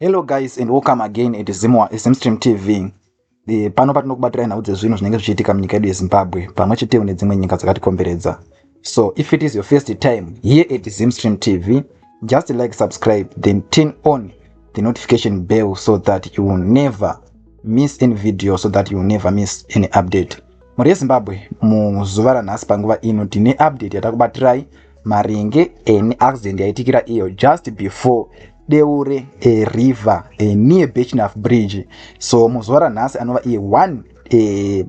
hello guys and welcome again at zimwa smstream tv eh, pano patinokubatira nhau dzezvinhu zvinenge zvichiitika munyika yedu yezimbabwe pamwe chetewo nedzimwe nyika dzakatikomberedza so if it is your first time here at zimstream tv just like subscribe then turn on the notification bell so that you will never miss any video so that you will never miss any update Mhuri yeZimbabwe, muzuva ranhasi panguva ino tine update yatakubatirai maringe eni accident yaitikira iyo just before deure a river a near bechnaf bridge so muzuva ranhasi anova iye 1 eh,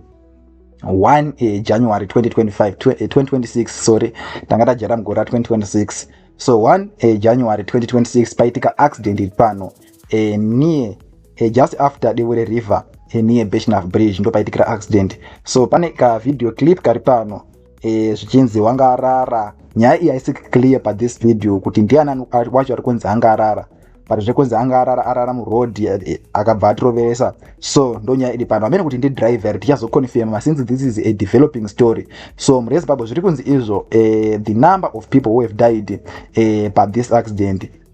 1 eh, january 2025 2026 eh, sorry tanga tajera mugore ra 2026 so 1 eh, january 2026 paitika accident iri pano e, near e, just after dewere river e, near beshnaf bridge ndopaitikira accident so pane ka video clip kari pano e, zvichinzi wanga arara nyaya iyi haisi clear pathis video kuti ndiani wacho ari kunzi anga arara but zvekunzi anga arara arara muroad e, akabva atiroveresa so ndonyaya iri pano amene kuti ndidriver tichazoconfirma since this is a developing story so murezimbabwe zviri kunzi izvo e, the number of people who have died e, pathis accident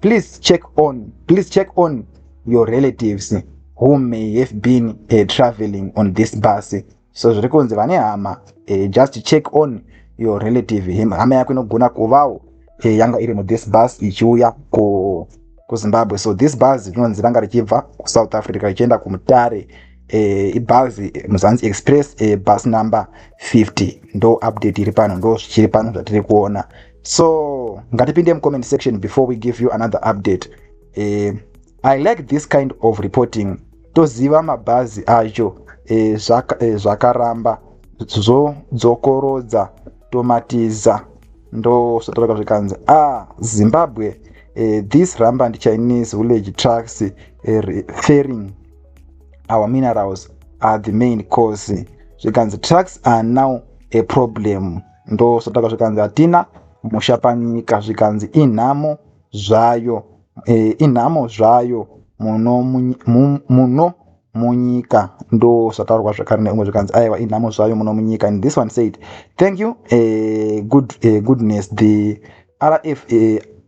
please check on please check on your relatives who may have been uh, traveling on this bus so zviri kunzi vane hama uh, just check on your relative him hama yako inogona kuvawo uh, eh, yanga iri muthis bus ichiuya ku kuzimbabwe so this bus rinonzi ranga richibva kusouth africa richienda kumutare uh, ibus muzanzi express uh, bus number 50 ndo update iri pano ndo zvichiri pano zvatiri kuona so ngatipinde mucomment section before we give you another update eh, i like this kind of reporting toziva mabhazi acho eh, zvaka, eh, zvakaramba zvodzokorodza tomatiza ndosvotoreka zvikanzi a ah, zimbabwe eh, this ramba ndi chinese village trucks eh, referring our minerals are the main cause zvikanzi trucks are now a problem ndosataka zvikanzi hatina musha panyika zvikanzi inhamo zvayo e, inhamo zvayo muno muno munyika ndosataurwa zvakare neumwe zvikanzi aiwa inhamo zvayo muno munyika and this one said thank you e, good, e, goodness the rf e,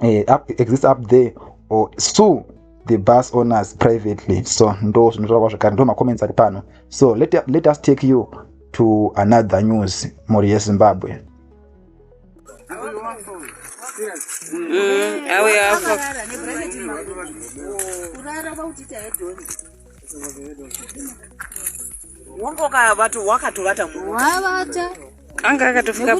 eh, up, exist up there or sue the bus owners privately so ndo zvinotaura kwazvekare ndo macomments ari pano so let, let us take you to another news mhuri yezimbabwe mm, wongoka vato wakatovata wavata anga akatofika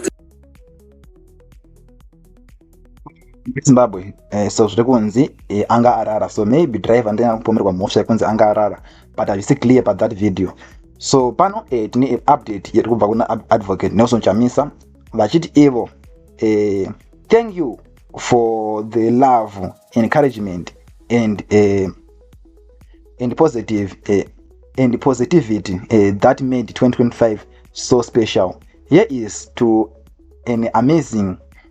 zimbabwe eh, so zviri kunzi eh, anga arara so maybe driver ndina kupomerwa mhosva yekunzi anga arara but hazvisi clear pathat video so pano eh, tine update yeri kubva kuna advocate nelson chamisa vachiti ivo eh, thank you for the love encouragement and eh, and positive eh, and positivity eh, that made 2025 so special here is to an amazing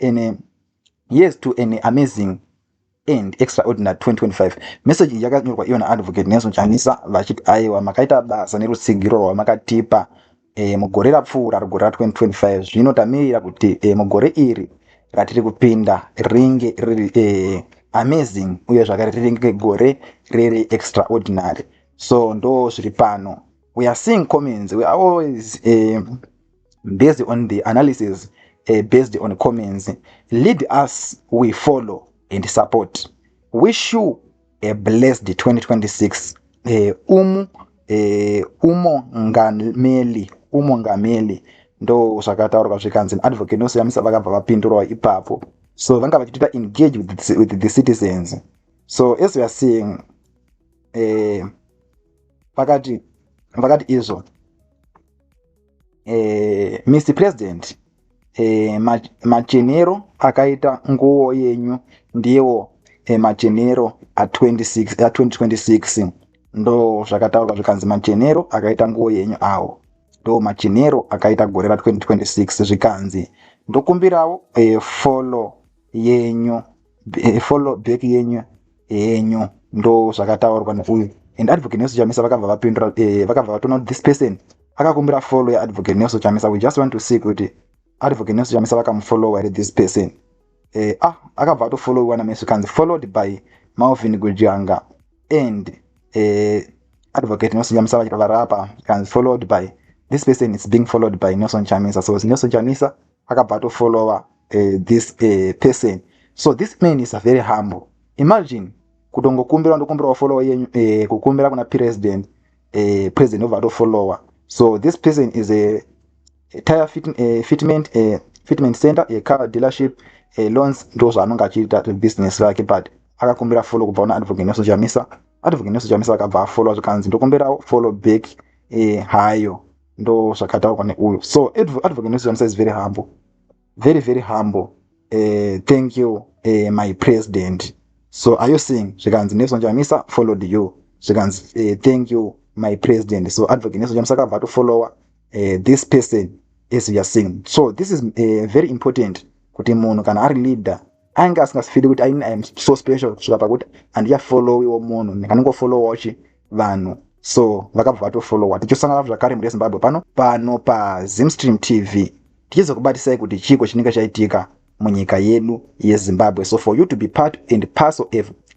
and uh, yes to an amazing and extraordinary 2025 message iyi yakanyorwa ivo naadvocate nelson chanisa vachiti aiwa makaita basa nerutsigiro rwamakatipa e, mugore rapfuura rugore ra 2025 zvino tamirira kuti e, mugore iri ratiri kupinda ringe riri e, amazing uye zvakare ringe gore riri extraordinary so ndo zviri pano we are seeing comments we are always e, based on the analysis uh, based on comments lead us we follow and support wish you a blessed 2026 uh, eh, umu eh, umongameli umongameli ndo zvakataurwa zvikanzi advocate nosiyamisa vakabva vapindurawo ipapo so vanga vachitoita engage with the, with the citizens so as weare seeing eh, vakati vakati izvo eh, mr president eh, machenero akaita nguwo yenyu ndiwo eh, machenero a2026 ndo zvakataurwa zvikanzi machenero akaita nguwo yenyu awo ndo machenero akaita gore ra2026 zvikanzi ndokumbirawo eh, follow yenyu follow back yenyu henyu ndo zvakataurwa neuyu and advocate nelson chamisa vakabva vapindura eh, vakabva vatona kuti this person akakumbira follow yeadvocate nelson chamisa we just want to see kuti advocate nelson chamisa vakamufollowa here this person eh, ah akabva atofollowiwa namesu kanzi followed by malvin gujanga and eh, advocate nelson chamisa vachirapa kanzi followed by this person is being followed by nelson chamisa so nelson chamisa akabva atofollowa uh, this uh, person so this man is a very humble imagine kutongokumbira ndokumbirawo followa yenyu uh, kukumbira kuna president uh, president obva atofollowa so this person is a, a tire fit, uh, fitment uh, fitment center a car dealership uh, loans ndo zvaanonge achiita business rake but akakumbira follow kubva una advocate nelson chamisa advocate nelson chamisa akabva afollowa zvikanzi ndokumbirawo follow back uh, hayo ndo zvakataurwa neuyo so advocate munisiyamisa is very humble very very humble uh, thank you uh, my president so are you seeing zvikanzi nelson chamisa followed you zvikanzi uh, thank you my president so advocate nelson chamisa akabva atofollowa uh, this person as youare seeing so this is uh, very important kuti munhu kana ari leader ainge asingafili kuti aini iam so special kusvika pakuti handichafollowiwo munhu ndinganongofollowachi vanhu so vakabva vatofollowa tichosangana zvakare mhuri yezimbabwe pano pano pazimstream tv tichizokubatisai kuti chiiko chinenge chaitika munyika yedu yezimbabwe so for you to be part and parcel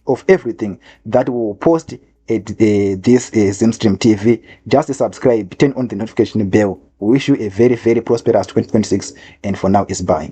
of everything that we will post at uh, this uh, zimstream tv just subscribe turn on the notification bell we wish you a very very prosperous 2026 and for now is bye